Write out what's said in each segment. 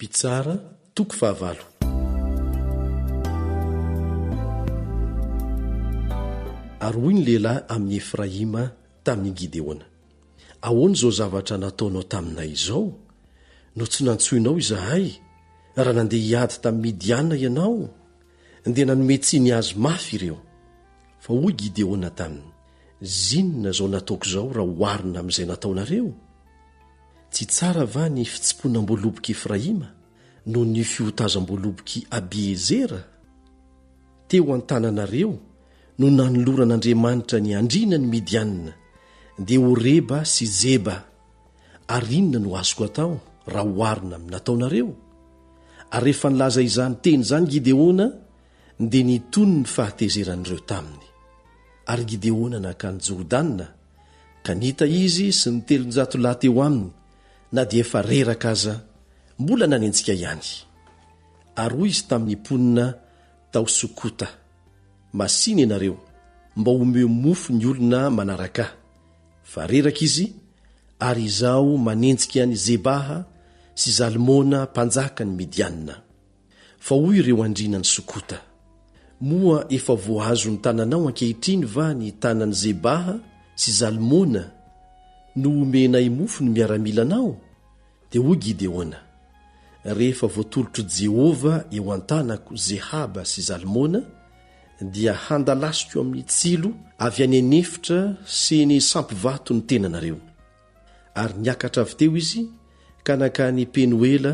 Mpitsara, toko fahavalo. Ary hoy ny lehilahy amin'i Efraima tamin'i Gideona, Ahoana izao zavatra nataonao taminay izao, no tsy nantsoinao izahay, raha nandeha hiady tamin'i Midiana ianao, dia nanome tsiny azy mafy ireo? Fa hoy Gideona taminy, Zinona izao nataoko izao raha oharina amin'izay nataonareo? Tsy tsara va ny fitsiponam-boalobok'i Efraima noho ny fihotazam-boalobok'i Abiezera? Teo an-tananareo no nanoloran'Andriamanitra ny andriana ny Midianina, dia Oreba sy Zeba, ary inona no azoko atao raha oharina amin'ny nataonareo? Ary rehefa nilaza izany teny izany Gideona, dia nitony ny fahatezeran'ireo taminy. Ary Gideona nankany Jordana, Ka nita izy sy ny telonjato lahy teo aminy na dia efa reraka aza, mbola nanenjika ihany. Ary hoy izy tamin'ny mponina tao Sokota, Masìna ianareo mba homeo mofo ny olona manaraka ahy, fa reraka izy, ary izaho manenjika an'i Zebaha sy Zalmona mpanjakan'ny Midianina. Fa hoy ireo andriana an'i Sokota, Moa efa voaazon'ny tananao ankehitriny va ny tanan'i Zebaha sy Zalmona, no omenay mofo ny miaramilanao? Dia hoy Gideona, Rehefa voatolotr'i Jehovah eo an-tanako Zehaba sy Zalmona, dia handalasiko amin'ny tsilo avy any an'efitra sy eny sampivato ny tenanareo. Ary niakatra avy teo izy ka nankany Penoela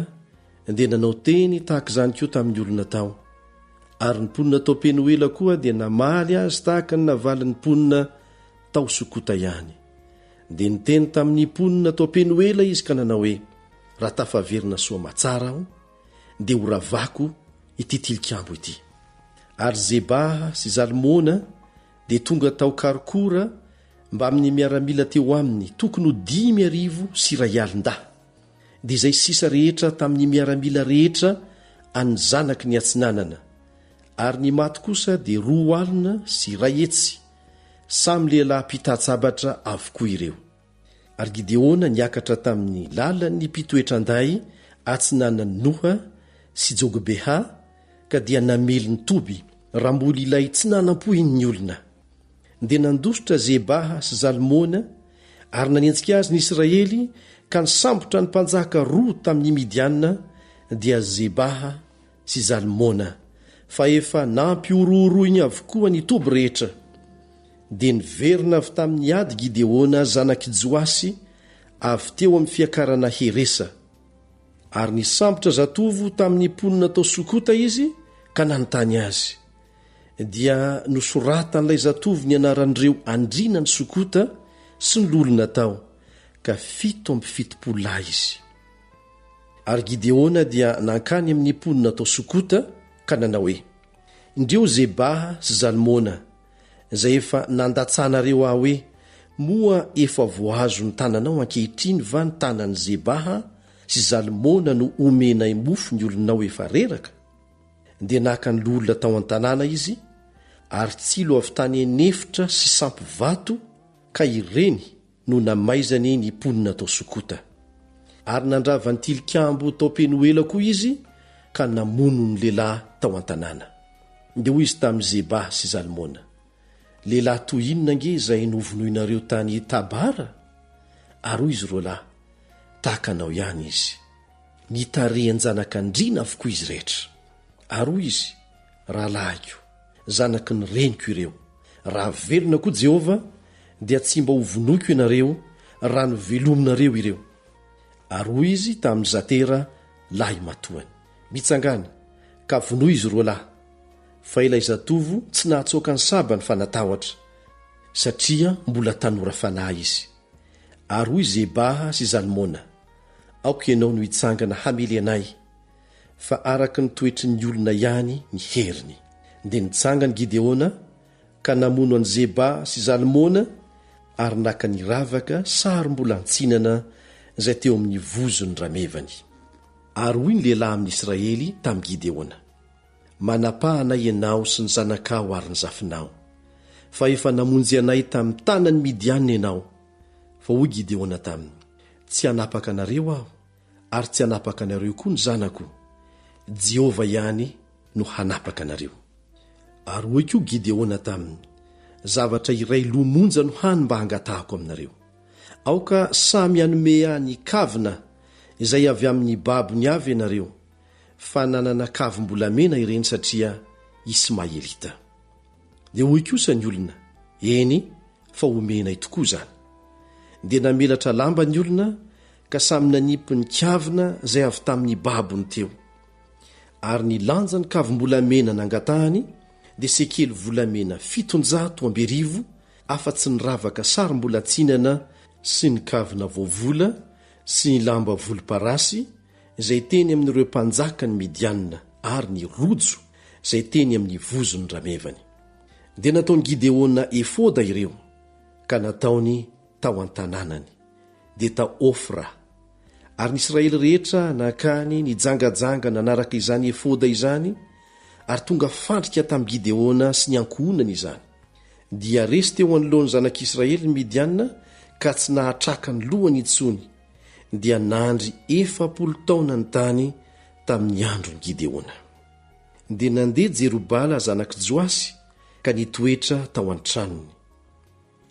dia nanao teny tahaka izany koa tamin'ny olona tao. Ary ny mponina tao Penoela koa dia namaly azy tahaka ny navalin'ny mponina tao Sokota ihany. Dia niteny tamin'ny mponina tao Penoela izy ka nanao hoe, Raha tafaverina soa aman-tsara aho, dia horavako ity tilikambo ity. Ary Zebaha sy Zalmona dia tonga tao Kharkour mbamin'ny miaramila teo aminy tokony ho dimy arivo sy iray alin-dahy, dia izay sisa rehetra tamin'ny miaramila rehetra an'ny zanaky ny Atsinanana, ary ny maty kosa dia roa alina sy iray hetsy, samy lehilahy mpitatsa-batra avokoa ireo. Ary Gideona niakatra tamin'ny lalan'ny mpitoetran-day atsinanan'i Noha sy Jogbehà ka dia namely ny toby ramboly ilay tsy nanampoihin'ny olona. Dia nandositra Zebaha sy Zalmona ary nanenjika azy ny Israely ka nisambotra ny mpanjaka roa tamin'ny Midianina, dia Zebaha sy Zalmona fa efa nampihorohoroiny avokoa ny toby rehetra. Dia niverina avy tamin'ny ady Gideona zanak'i Joasy avy teo amin'ny fiakarana Heresa, ary nisambotra zatovo tamin'ny mponina tao Sokota izy ka nanontany azy. Dia nosoratan'ilay zatovo ny anaran'ireo andriana ny Sokota sy ny loholona tao, ka fito amby fitopolo lahy izy. Ary Gideona dia nankany amin'ny mponina tao Sokota ka nanao hoe, Indreo Zebaha sy Zalmona, izay efa nandatsahanareo ahy hoe, Moa efa voahazo ny tananao ankehitriny va ny tanan'i Zebaha sy Zalmona no omenay mofo ny olonao efa reraka? Dia naka ny loholona tao an-tanàna izy, ary tsilo avy tany an'efitra sy sampy vato, ka ireny, no namaizany ny mponina tao Sokota. Ary nandrava ny tilikambo tao Penoela koa izy ka namono ny lehilahy tao an-tanàna. Dia hoy izy tamin'i Zeba sy Zalmona, Lehilahy toy inona ange izay novonoinareo tany Tabara? Ary hoy izy roalahy, Tahaka anao ihany izy. Nitarihan-janakandriana avokoa izy rehetra. Ary hoy izy, Rahalahiko, Zanaky ny reniko ireo. Raha velona koa Jehovah, dia tsy mba hovonoiko ianareo, raha novelominareo ireo. Ary hoy izy tamin'i Zatera, lahimatoany, Mitsangàna, ka vonoy izy roa lahy. Fa ilay zatovo tsy nahatsoaka ny sabany fa natahotra, satria mbola tanora fanahy izy. Ary hoy Zebaha sy Zalmona, Aoka ianao no hitsangana hamely anay. fa araka ny toetry ny olona ihany ny heriny. Dia nitsangana i Gideona ka namono an'i Zeba sy Zalmona ary naka ny ravaka sarom-bolantsinana izay teo amin'ny vozon'ny ramevany. Ary hoy ny lehilahy amin'ny Israely tamin'i Gideona, Manapaha anay ianao sy ny zanakao ary ny zafinao, fa efa namonjy anay tamin'ny tanan'ny Midianina ianao. Fa hoy Gideona taminy, Tsy hanapaka anareo aho, Ary tsy hanapaka anareo koa ny zanako. Jehovah ihany no hanapaka anareo. Ary hoy koa Gideona taminy, Zavatra iray lo monja no hany mba hangatahako aminareo. Aoka samy hanome ahy ny kavina izay avy amin'ny babony avy ianareo, fa nanana kavim-bolamena ireny satria Ismaelita. Dia hoy kosa ny olona, Eny, fa homenay tokoa izany. Dia namelatra lamba ny olona ka samy nanipy ny kavina izay avy tamin'ny babony teo. Ary ny lanjan'ny kavim-bolamena nangatahany dia sekely volamena fitonjato amby arivo afa-tsy ny ravaka sarim-bolan-tsinana sy ny kavina voavola sy ny lamba volomparasy izay teny amin'ireo mpanjakan'i Midianina ary ny rojo izay teny amin'ny vozon'ny ramevany. Dia nataon'i Gideona efoda ireo ka nataony tao an-tanànany, dia tao Ofra. Ary ny Israely rehetra nankany nijangajanga nanaraka izany efoda izany, ary tonga fandrika tamin'i Gideona sy ny ankohonany izany. Dia resy teo anoloan'ny zanak'Israely ny Midianina ka tsy nahatraka ny lohany intsony, dia nandry efapolo taona ny tany tamin'ny andron'i Gideona. Dia nandeha Jerobala zanak'i Joasy ka nitoetra tao an-tranony.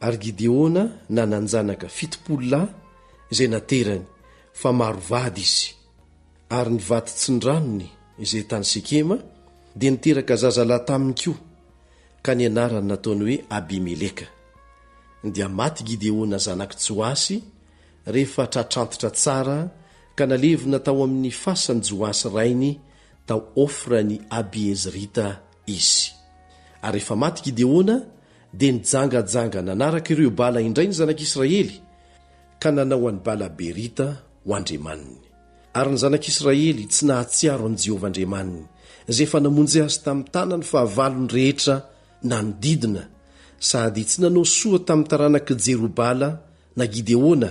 Ary Gideona nanan-janaka fitopolo lahy izay naterany, fa maro vady izy. Ary ny vaditsindranony izay tany Sekema dia niteraka zazalahy taminy koa, ka ny anarany nataony hoe Abimeleka. Dia maty Gideona zanak'i Joasy rehefa tratrantitra tsara, ka nalevina tao amin'ny fasan'i Joasy rainy tao Ofran'i Abiezrita izy. Ary rehefa maty Gideona, dia nijangajanga nanaraka ireo bala indray ny zanak'Israely, ka nanao an'i Bala-berita ho andriamaniny. Ary ny zanak'Israely tsy nahatsiaro an'i Jehovah Andriamaniny, izay efa namonjy azy tamin'ny tanany fahavalony rehetra nanodidina, sady tsy nanao soa tamin'ny taranak'i Jerobala na Gideona,